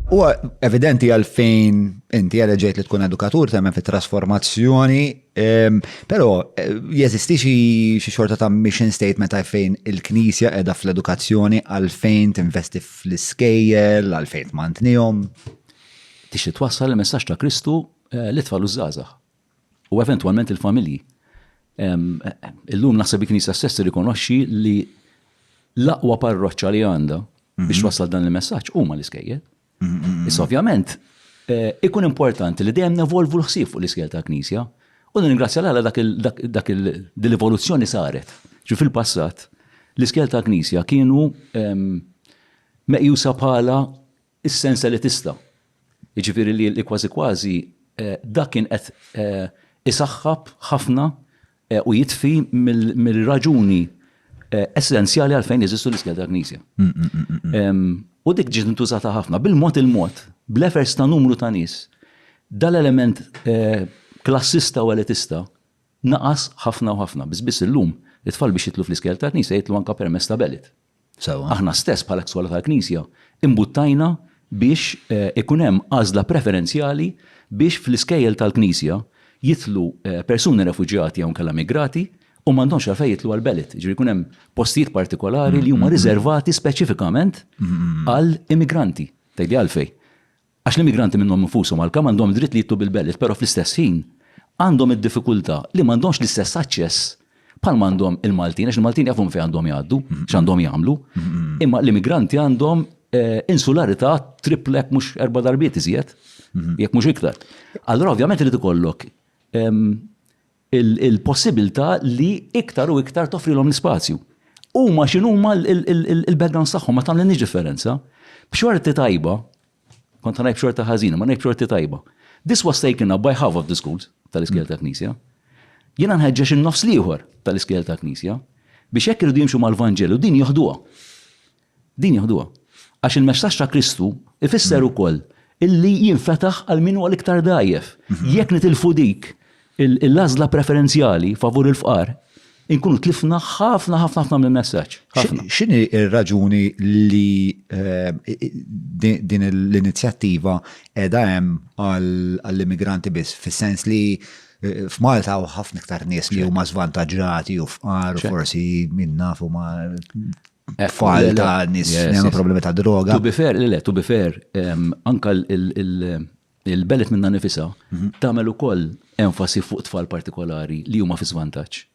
U evidenti għal fejn inti għal ġejt li tkun edukatur temmen fit trasformazzjoni ehm, pero eh, jeżisti xi xorta ta' mission statement għal fejn il-knisja edha fl-edukazzjoni għal fejn tinvesti fl-iskejjel, għal fejn tmantnihom. Tixi twassal il-messaġġ ta' Kristu eh, li tfal użżażaħ. u eventwalment il-familji. Illum naħseb il-Knisja stess tirrikonoxxi li l-aqwa parroċċa li għandha biex wasal dan il-messaġġ huma l-iskejjel. Issa ovvjament eh, ikun importanti li dejjem nevolvu l-ħsieb fuq l-iskejjel tal-Knisja u ningrazzja l dak l-evoluzzjoni saret. Ġi fil-passat l-iskejjel tal-Knisja kienu meqjusa bħala Is-sens elitista, jiġifieri li kważi kważi dak kien qed isaħħab ħafna u jitfi mir-raġuni essenzjali għalfejn jeżistu l-iskejjel tal-Knisja. U dik ġiet intużata ħafna, bil-mod il-mod, bl-efforts ta' numru ta' nies, dal-element klassista u elitista naqas ħafna u ħafna, biss biss illum it-tfal biex jidħlu fl-iskejjel tal-Knisja jidħlu anke permezz ta' belit. Sewwa. Aħna stess bħala Skola tal-Knisja imbuttajna biex ikun hemm għażla preferenzjali biex fl-iskejjel tal-Knisja jidħlu persuni refuġjati jew inkella migrati u m'għandhomx għalfejn jidħlu għall-Belit. Jiġifieri jkun hemm postijiet partikolari li huma riżervati speċifikament għal immigranti. Tgħidli għalfejn? Għax l-immigranti minnhom infushom għalkemm għandhom id-dritt li jitlu bil-bellet però fl-istess ħin għandhom id-diffikultà li m'għandhomx l-istess aċċess bħal ma għandhom il-Maltin għax il-Maltin jafu minn fejn għandhom jgħaddu, x'għandhom jagħmlu, imma l-immigranti għandhom insularità trippla jekk mhux erba' darbiet iżjed, jekk mhux iktar. Allura ovvjament irid ikollok il-possibbiltà li iktar u iktar toffrilhom l-ispazju. Huma x'inhuma l-backgrounds tagħhom ma tagħmlilniex differenza. B'xorti tajba, kont ngħid b'xorti ħażina, ma ngħid b'xorti tajba. This was taken up by half of the schools tal-iskejjel tal-Knisja. Jiena nħeġġeġ in-nofs l-ieħor tal-iskejjel tal-Knisja biex hekk iridu jimxu mal-Vanġelu din joħduha. Din jeħduha. Għax il-messaġġ ta' Kristu jfisser ukoll illi jinfetaħ għal min huwa l-iktar dgħajjef. Jekk nitilfu dik l-għażla preferenzjali favur il-fqar, inkunu tlifna ħafna ħafna ħafna mill-messaġġ. X'inhi r-raġuni li din l-inizjattiva qiegħda hemm għall-immigranti biss, fis-sens li f'Malta hawn ħafna iktar nies li huma żvantaġġati u fqar u forsi min naf huma tfal ta' nis li għandhom problemi ta' droga. Tu bifer, li le, tu bifer, anka il-belet minna nifisa mhm. tagħmel ukoll enfasi fuq tfal partikolari li huma fi żvantaġġ.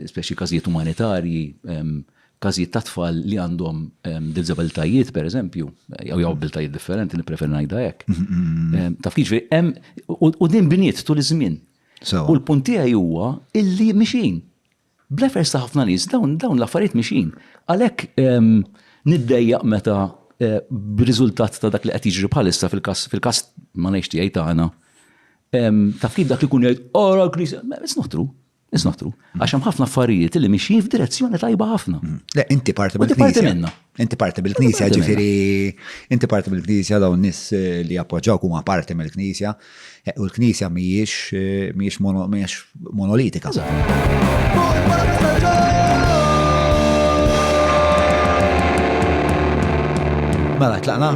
Speċi każijiet umanitarji, każijiet ta' tfal li għandhom dizabiltajiet, per eżempju, jew jew abiltajiet differenti, niprefer ngħidha hekk. Taf kif hemm u din bniet tul iż-żmien. U l-punt tiegħi huwa illi mixin. Bl-efforts ta' ħafna nies dawn l-affarijiet mixjin. Għalhekk niddejjaq meta b'riżultat ta' dak li qed jiġri bħalissa fil-każ fil-każ ma ngħidx tiegħi tagħna. Taf kif dak li jkun jgħid ara l-Knisja, it's not true. It's not true. Għax hemm ħafna affarijiet li mixjin f'direzzjoni tajba ħafna. Le, inti parti mill-Knisja. Inti parti minnha. Inti parti mill-Knisja, ġifiri, inti parti mill-Knisja daw nis eh, li appoġġaw kuma parti mill-Knisja, eh, u l-Knisja miex eh, miex monolitika. Mela, tlaqna?